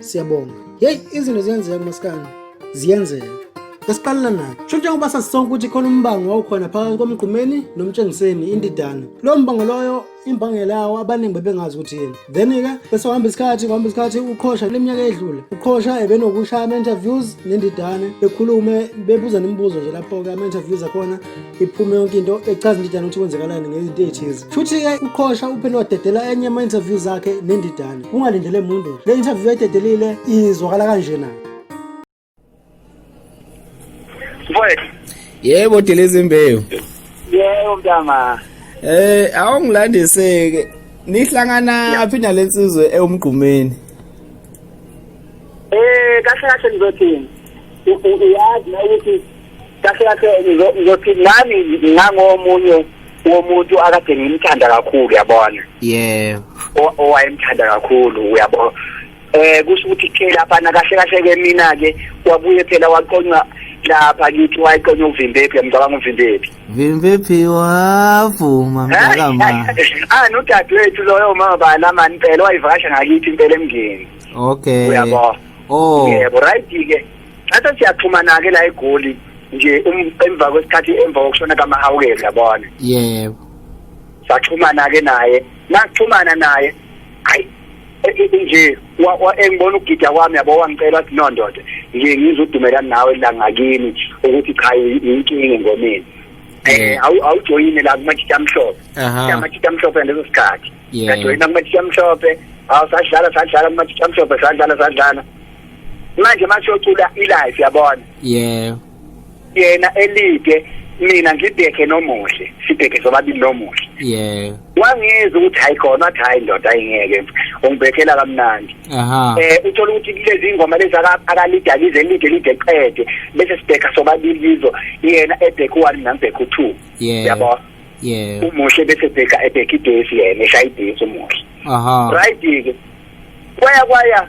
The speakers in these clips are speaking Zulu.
siyabonga yeyi izinto ziyenzeka masikani ziyenzeka esiqalela nakho sho njengoba sasisonke ukuthi khona umbango wawukhona phakathi komgqumeni nomtshengiseni indidana lowo mbango loyo imbangela yawo abaningi bebengazi ukuthi yini then-ke bese uhamba isikhathi kuhamba isikhathi uqhosha kule minyaka edlule uqhosha ebenokushaya ama-interviews nendidane bekhulume bebuza nemibuzo nje lapho-ke ama-interviews akhona iphume yonke into echaza indidane ukuthi kwenzekalani ngezinto eyithize futhi-ke uqhosha uphele wadedela enye ama-interview zakhe nendidane ungalindele muntu le interview ayidedelile izwakala kanje na yebo delezi imbewu yebo mntama eh awungilandiseke nihlangana phi nale nsizwe ewumgqumeni eh kahle kahle ngizothini uyazi na ukuthi kahle kahle ngizothi nami ngangomunye womuntu akade ngimthanda kakhulu yabona yeah owayemthanda kakhulu uyabona eh kusho ukuthi ke lapha na kahle kahle ke mina ke wabuye phela waqonqa lapha kithi wayiqonqa uvimbephi ngicabanga uvimbephi vimbephi wavuma mntakama ah nodadewethu loyo mama bala mani phela wayivakasha ngakithi impela emngeni okay uyabo oh yebo right ke Thatha siyaxhumana ke la eGoli nje um, emva kwesikhathi emva kokushona kaMahawukela yabona. Yebo. Saxhumana ke naye. Naxhumana naye. Hayi e, e, e, nje engibona ukugida kwami yabo wangicela ukuthi no ndoda nje ngizodumela nawe la ngakini ukuthi cha yinkinga ngomini eh awujoyine la kumajita amhlophe amajita amhlophe ngaleso sikhathi ngajoyina kumajita amhlophe awu sadlala sadlala kumajita amhlophe sadlala sadlala manje manje ocula ilive yabona yeah yena elide mina ngibheke nomuhle sibheke sobabili nomuhle yeah wangizwa ukuthi hayi khona athi hayi ndoda ayingeke ungibhekela kamnandi aha eh uthola ukuthi kulezi ingoma lezi akalida lize lide lide qede bese sibheka sobabili lizo yena ebheka u1 nambheka u2 yeah yabo yeah umuhle bese bheka ebheka idesi yena eshaya idesi umuhle aha right ke kwaya kwaya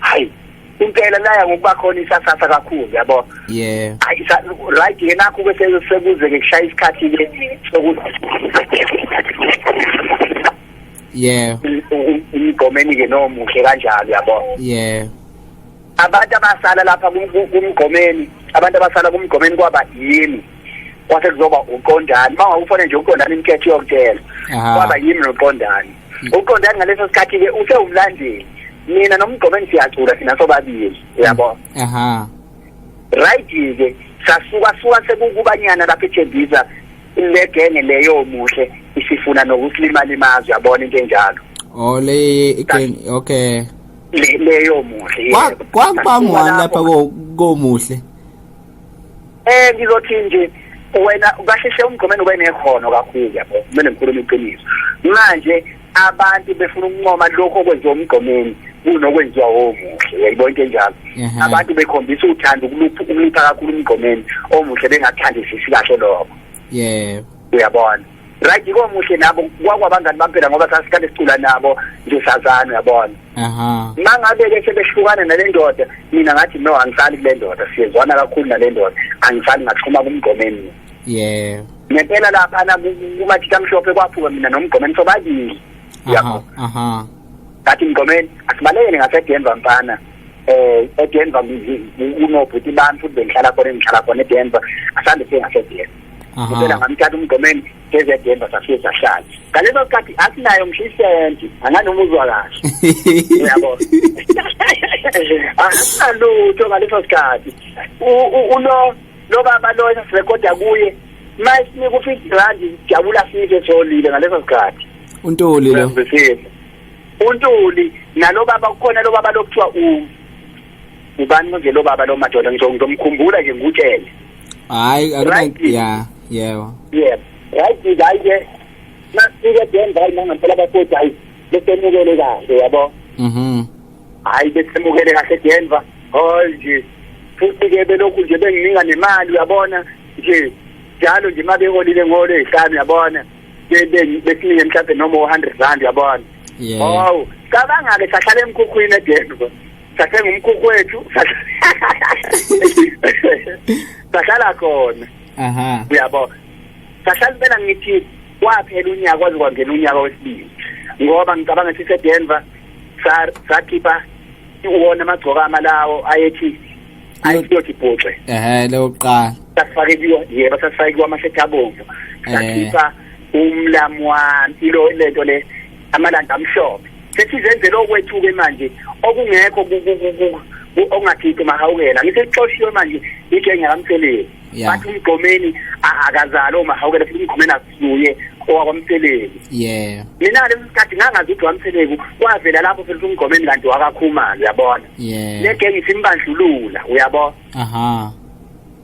hayi impela laya ngokuba khona isasasa kakhulu yabo yeah hayi right yena ku bese sekuze ke kushaya isikhathi ke sokuthi yeah umgomeni ke nomuhle kanjalo yabo yeah abantu abasala lapha kumgomeni abantu abasala kumgomeni kwaba yini kwase kuzoba uqondani mawawufone nje uqondani inketho yokutshela kwaba yimi noqondani uqondani ngaleso sikhathi ke usewumlandeli mina nomgqobeni siyacula thina sobabili uyabo aha right ke sasuka suka sekukubanyana lapha eThembisa legenge leyo muhle isifuna nokusilimala imazwi yabona into enjalo oh le igenge okay leyo muhle kwakuba ngwani lapha komuhle eh ngizothi nje wena kahle hle umgqomeni ube nekhono kakhulu yabo kumele ngikhulume iqiniso manje abantu befuna ukuncoma lokho okwenziwa umgqomeni kunokwenziwa omuhle uyayibo into enjalo mhm. abantu bekhombisa uthando ukulupha ukulupha kakhulu umgqomeni omuhle bengathandisisi kahle lokho yebo uyabona right komuhle nabo kwakwabangani bampela ngoba sasikade sicula nabo nje sazana uyabona aha mangabe ke sebehlukana nalendoda mina ngathi no angisali kulendoda siyezwana kakhulu nalendoda angisali ngaxhuma kumgomeni yeah ngempela lapha na kumathitha mhlophe kwaphuka mina nomgomeni sobabili yabo aha ngathi mgomeni asibalekele ngasedenver mfana eh edenver kunobhuti bami futhi bengihlala khona engihlala khona edenver asande sengasedenver ngicela ngamthatha umgomeni ngezedemba safike sahlala ngaleso sikhathi asinayo ngisho isenti anganoma uzwa kahle uyabo asinalutho ngaleso sikhathi ulo lo baba lo esirekoda kuye mayisinika u-fifty rand sijabula sife solile ngaleso sikhathi untuli lo untuli nalo baba kukhona lo baba lokuthiwa u ubani manje lo baba lo madoda ngizomkhumbula nje ngikutshele hayi akuna Right. ya yebo yeah right ke hayi ke masike denza hayi nangampela bakothi hayi besemukele kahle yabo mhm hayi besemukele kahle denva hol nje futhi ke belokhu nje bengininga nemali uyabona nje njalo nje uma beholile ngolo ezihlanu uyabona be- be- besinike mhlawumbe noma u-hundred rand uyabona yebo hawu cabanga-ke sahlala emkhukhwini edenva sathenga umkhukhu wethu sahlala khona aha uyabo sahlala impela ngithi kwaphela unyaka kwaze kwangena unyaka wesibili ngoba ngicabanga ukuthi sedenver sakhipha iwona amagcokama lawo ayethi ayiyothi bhuxe ehe leyo kuqala sasifake kuyo yebo sasifake kuyo amashethi abomvu sakhipha umlamu wami ilo lento le amalanda amhlophe sethi zenzele okwethuke manje okungekho okungakhiphi mahawukela ngithe ixoshiwe manje igenge kamtheleni bathi umgomeni akazali omahawukela futhi umgomeni akusuye owakwamtheleni yeah mina le mkhathi ngangazi ukuthi wamtheleni kwavela lapho futhi umgomeni kanti wakakhumalo uyabona yeah le genge isimbandlulula uyabona aha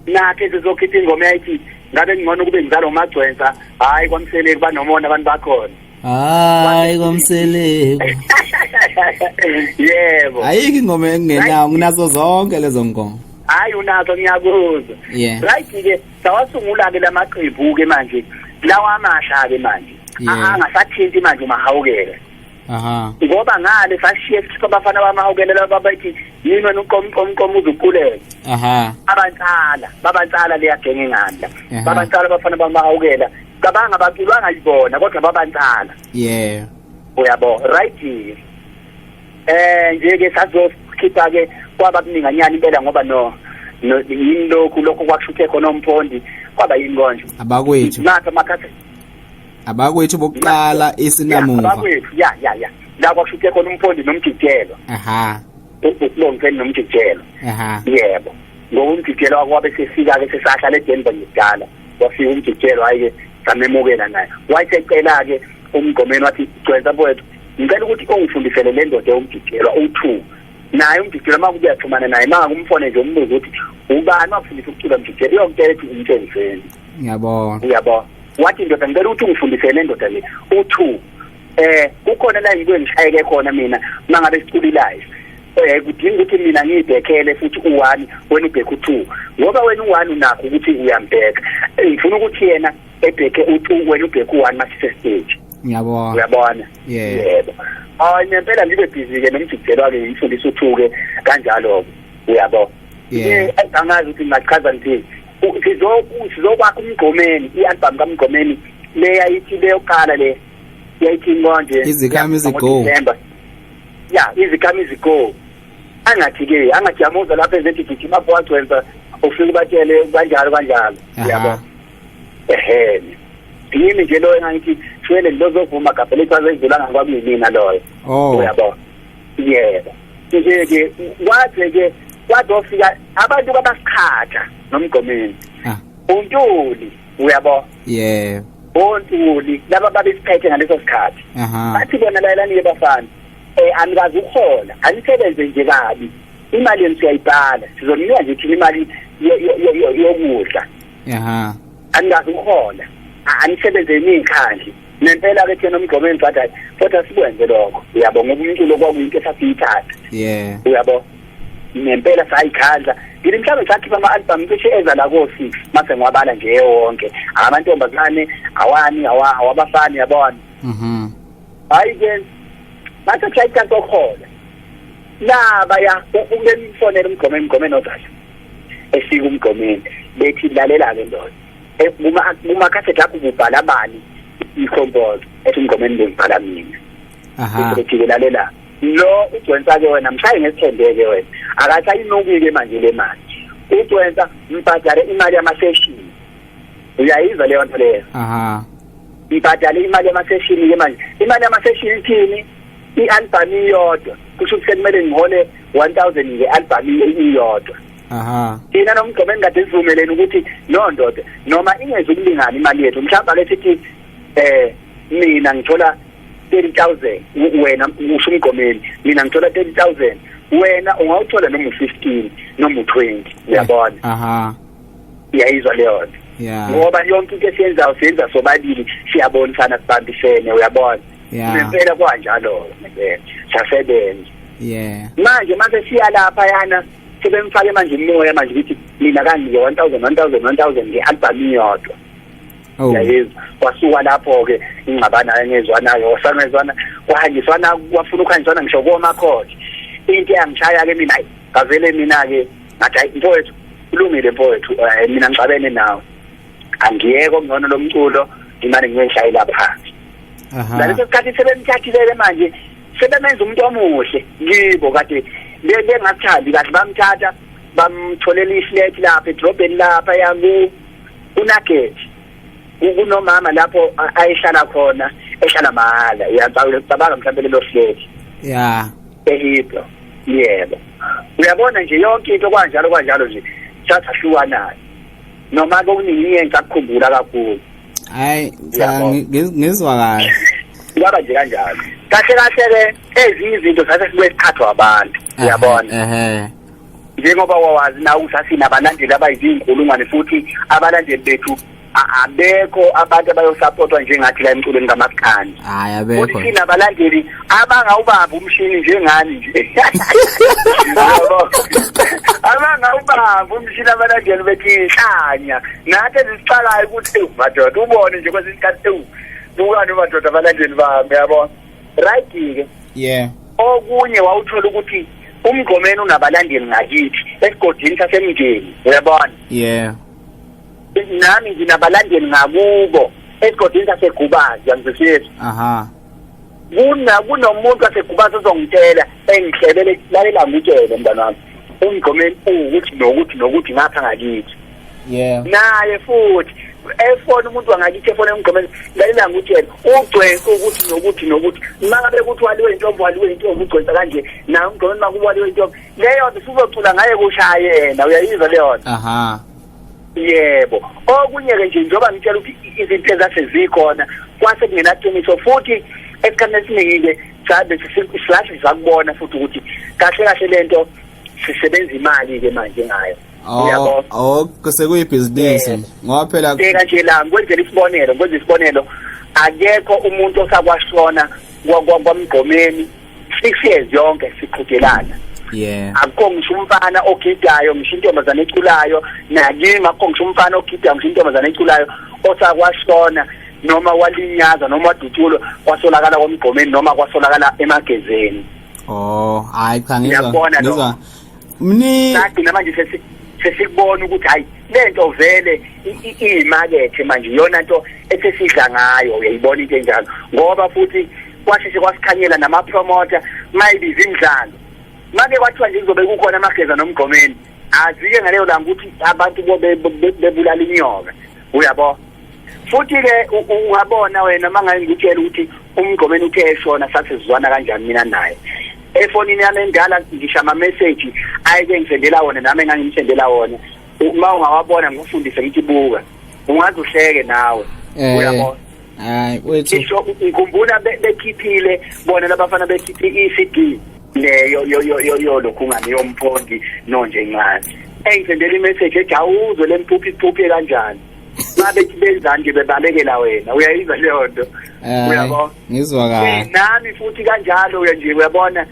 nakhe sizokhipha ingoma yayithi ngabe ngcono kube ngizalo magcwensa hayi kwamtheleni banomona abantu bakhona hayi komseleku yebo ayikho ingoma engenawo nginazo zonke lezo ngoma hayi unazo ngiyakuzwa yeah. right ke sawasungula ke lamaqembu ke manje lawa amasha ke manje yeah. angasathinti manje umahawukela aha ngoba ngale sashiye sikhipha abafana bamahawukela laba bathi yini wena uqomu qomu qomu uzukuleke aha abantsala babantsala leyagenge nganda babantsala abafana bamahawukela cabanga baculwanga yibona kodwa babancala yeah uyabo right eh nje ke sazokhipha ke kwaba kuninganyana impela ngoba no yini lokhu lokho kwakushuthe khona umphondi kwaba yini konje abakwethu nathi amakhathi abakwethu bokuqala isinamuva abakwethu ya ya ya la kwakushuthe khona umphondi nomjijelo aha ukulongeni nomjijelo aha yebo ngokumjijelo kwabe sefika ke sesahlala eDenver ngidala wafika umjijelo hayi-ke samemukela naye wayesecela-ke umgqomeni wathi gcwensa mfowethu ngicela ukuthi ungifundisele le ndoda ewumjijelwa u-two naye umjijelo uma kuyaxhumana naye manga kumfone nje umbuze ukuthi ubani wakufundisa ukucula mjijelo iyongitshela ukuthi umtshenzeni ngiyabona uyabona wathi ndoda ngicela ukuthi ungifundisele le ndoda le u-two eh kukhona la yikho engishayeke khona mina mangabe siculilayo eh kudinga ukuthi mina ngibhekele futhi u1 wena ubheke u2 ngoba wena u1 unakho ukuthi uyambheka ngifuna ukuthi yena ebheke u2 wena ubheke u1 masise stage ngiyabona uyabona yebo hayi ngempela ngibe busy ke nomjikjelwa ke ngifundisa uthuke kanjalo uyabo yeah angazi ukuthi ngachaza ngithini sizokwakha umgqomeni i-album kamgqomeni leya ithi leyoqala le yayithini konje izikhamizi go ya izikhamizi go angathi ke angathi yamuza lapha ezethi gijima apho wagcwensa ufike ubatshele kanjalo kanjalo yabo ehe yini nje loyo engangithi shwele lozovuma gabhe lethu azedlulanga kwakunimina loyo oh. uyabo yebo nje-ke kwaze-ke kwazofika abantu babasiqhatha nomgomeni ah. untuli uyabo yeah ontuli laba babesiphethe ngaleso sikhathi bathi bona layelani-ke bafana um eh, anikazi ukuhola anisebenze nje kabi imali yenu siyayibhala sizoninika nje thina imali yokudla anikazi ukuhola anisebenze niyikhandli nempela-ke thina umgqomeni sathi kodwa sikwenze lokho uyabo ngoba umculo kwakuyinto esasiyithatha uyabo ngempela sayikhandla ngile mhlawumbe sakhipha ama-albhamu cishe eza la ko-six mase ngiwabala nje wonke amantombazane awani awabafani yabona mhm. hhayi-ke mase kushaya icansi okuhola labaya umemfonela umgome emgomeni odala esika umgomeni bethi lalela-ke ndoda e, kumakhasethi akho kubhala bani i-compose ethi umgomeni bengibhala mina ephikelalela lo ugwensa-ke wena mshaye ngesithembeke wena akasayinukile manje le mali ugwensa mbhadale imali yamaseshini uyayizwa leyo nto leyo mbhadale imali yamaseshini ke manje imali yamaseshini ithini i-albhamu iyodwa kusho ukuthi sekumele ngihole one thousand nge-albhamu iyodwa aha thina nomgqomo engikade sivumeleni ukuthi no ndoda noma ingezi ukulingana imali yethu mhlawumbe ake sithi eh mina ngithola 30000 wena usho umgomeli mina ngithola 30000 wena ungawuthola noma u15 noma u20 uyabona aha iyayizwa leyo yeah ngoba yonke into esiyenzayo siyenza sobabili siyabonisana sibambisene uyabona yeah ngempela kwanjalo ngempela sasebenza yeah manje mase siya lapha yana sebemfake manje umoya manje ukuthi mina kangi 1000 1000 1000 nge album iyodwa Oh. yayezi kwasuka lapho-ke ingxabana engezwanayo wasangezwana kwahanjiswana kwafuna ukuhanjiswana ngisho komakhodi into eyangishaya-ke mina ayi ngavele mina-ke ngathi hayi mfowethu kulungile mfowethu um mina ngixabene nawe angiyeke okungcono lo mculo ngimane ngiyeshayela phansi naleso sikhathi sebemthathilele manje sebemenza umuntu omuhle kibo kade bengathandi kahle bamthatha bamtholela iflat lapha edrobheni lapha yaku kunageti kunomama lapho ayihlala khona ehlala mahala uyacabanga cabanga mhlawumbe lelo flat ya ehibho yebo uyabona nje yonke into kwanjalo kwanjalo nje thatha hlukanayo noma kokuningi engikakukhumbula kakhulu hayi cha ngizwa kahle kwaba nje kanjalo kahle kahle ke ezinye izinto sase sibuye sikhathwa abantu uyabona ehe njengoba wawazi nawe ukuthi asinabalandeli abayizinkulungwane futhi abalandeli bethu abekho abantu abayosapotwa njengathi la emculweni kamaskani hayi abekho futhi sinabalandeli abangawubamba umshini njengani nje abangawubamba umshini abalandeli bethu inhlanya nathi ezisiqalayo ukuthi madoda ubone nje kwesinye isikhathi ewu bukani madoda abalandeli bami yabona right ke yeah okunye wawuthola ukuthi umgqomeni unabalandeli ngakithi esigodini sasemndeni uyabona yeah nami nginabalandeli ngakubo esigodini sasegubazi yangizwisisa aha kuna kunomuntu wasegubazi ozongitshela engihlebele lalela ngitshele mntana wami umgqomeni ukuthi nokuthi nokuthi ngapha ngakithi yeah naye futhi efona umuntu wangakithi efona emgqomeni lalela ngutshela ugcwensa ukuthi nokuthi nokuthi maka bekuthi waliwe intombo waliwe intombo ugcwensa kanje naye umgqomeni makuba waliwe intombo leyo nto sizocula ngaye kushaya yena uyayizwa leyo nto aha yebo okunye-ke nje njengoba ngitshela ukuthi izinto ezase zikhona kwase kungenaqiniso futhi esikhathini esiningi-ke cha bese silathi sakubona futhi ukuthi kahle kahle lento sisebenza imali ke manje ngayo uyabo oh sekuyibhizinisi eh, ngoba phela bheka nje la ngikwenzela isibonelo ngikwenza isibonelo akekho umuntu osakwashona kwamgqomeni six years yonke siqhudelana yeah akukho ngisho umfana ogidayo ngisho intombazane eculayo nakimi akukho ngisho umfana ogidayo ngisho intombazane eculayo osakwashona noma walinyaza noma wadutshulwa kwasolakala komgqomeni noma kwasolakala emagezeni oh hayi cha ngizwa ngizwa mni sathi namanje sesi sesikubona ukuthi hayi lento vele iyimakethe manje iyona nto esesidla ngayo uyayibona into enjalo ngoba futhi kwasheshe kwasikhanyela namapromoter maybe izindlalo make kwathiwa nje kuzobe kukhona amageza nomgqomeni azike ngaleyo langa ukuthi abantu bebulala inyoka uyabo futhi ke ungabona wena mangaye ngitshela ukuthi umgqomeni uthe eshona sasizwana kanjani mina naye efonini yami endala ngisha ama message ayeke ngisendela wona nami engangimsendela wona uma ungawabona ngikufundise ngithi buka ungaze uhleke nawe eh. uyabona hayi wethu isho ngikhumbula bekhiphile bona labafana bekhiphe i-CD leyo yo yo yo yo lokhu ngani yomphondi nonje incane engithendela imessage ethi awuzwe lemphuphi iphuphe kanjani babe benzani nje bebalekela wena uyayizwa leyo nto eh, uyabo ngizwa kahle nami futhi kanjalo uya nje uyabona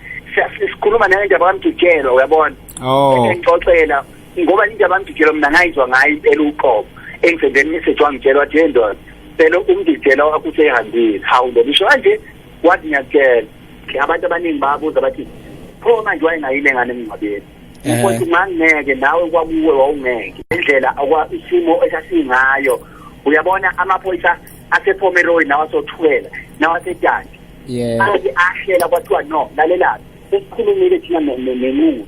sikhuluma nale ndaba kamjikelo uyabona oh. engixoxela ngoba into abangiditshela mina ngayizwa ngayo impela uqobo engisendeni message wangitshela wathi hey ndoda phela umdidela wakho usehambile hawu ndoda isho kanje wathi ngiyakutshela abantu abaningi babuza bathi pho manje wayengayile ngane emngcwabeni eh. ukuthi ngangeke nawe kwakuwe wawungeke indlela okwa isimo esasingayo uyabona amaphoyisa asePomeroy nawasothukela nawasetandi yeah ahlela kwathiwa no lalelaphi sesikhulumile thina nenqulu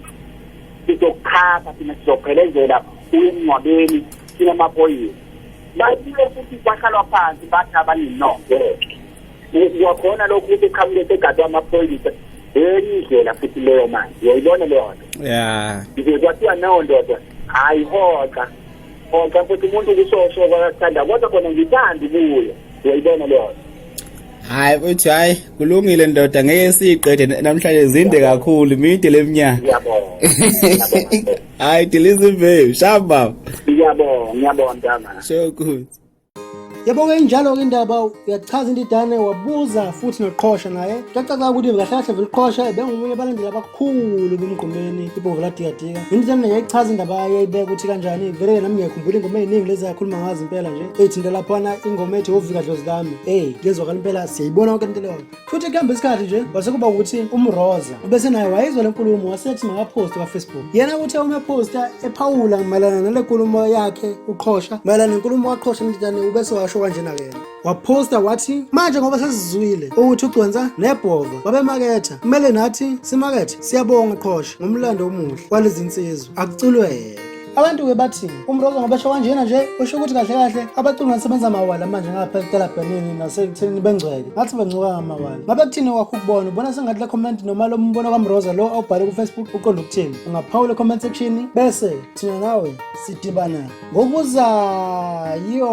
sizokuchapha thina sizophelezela uyemngcwabeni sinamaphoyisa babuye futhi kwahlalwa phansi bathi abaninonke kwakhona lokhu ukuthi qhamuke segadwa amaphoyisa enye indlela futhi leyo manje uyayibona leyo nto ya nje kwathiwa nawo ndoda hhayi hoxa hoxa futhi umuntu kusosho kwakakuthanda kodwa khona ngithanda ubuye uyayibona leyo nto hayi uthi hayi kulungile ndoda ngeke siyiqede namhlanje zinde kakhulu mide leminyaka ngiyabonga hayi diliza imbewu shamba baba ngiyabonga ngiyabonga mntana so good yabonga injalo-ke indaba uyachaza into idane wabuza futhi noqhosha naye kuyacaca ukuthi kahle kahle vele uqhosha bengomunye abalandeli abakho khulu kumgqumeni ibomvu ladikadika indlela mina yayichaza indaba yayo yayibeka ukuthi kanjani vele nami ngiyakhumbula ingoma eyiningi lezi akhuluma ngazo impela nje eyithinta laphana ingoma ethi wovika dlozi lami ey kuyezwakala impela siyayibona konke into leyo futhi kuhamba isikhathi nje wase kuba ukuthi umroza ubese naye wayizwa le nkulumo wasethi makaphoste kwafacebook yena ukuthi uma ephosta ephawula mayelana nale nkulumo yakhe uqhosha mayelana nenkulumo waqhosha mntana ubese washo kanjena-ke yena waphosta wathi manje ngoba sesizwile ukuthi ugconsa nebhova babemaketha kumele nathi simakethe siyabonga qhosha ngomlando omuhle kwalezi nsizwa akuculweke abantu-ke bathi umrozo ngoba esho kanjena nje usho ukuthi kahle kahle abaculi basebenza amawala manje ngapha ekutelabhenini nasekuthenini bengcweke ngathi bengcuka ngamawala ngabe kuthini kwakho ukubona ubona sengathi le comment noma lo mbono kamroza lo awubhale kufacebook uqonda ukuthini ungaphawula ecomment section bese thina nawe sidibana ngokuzayo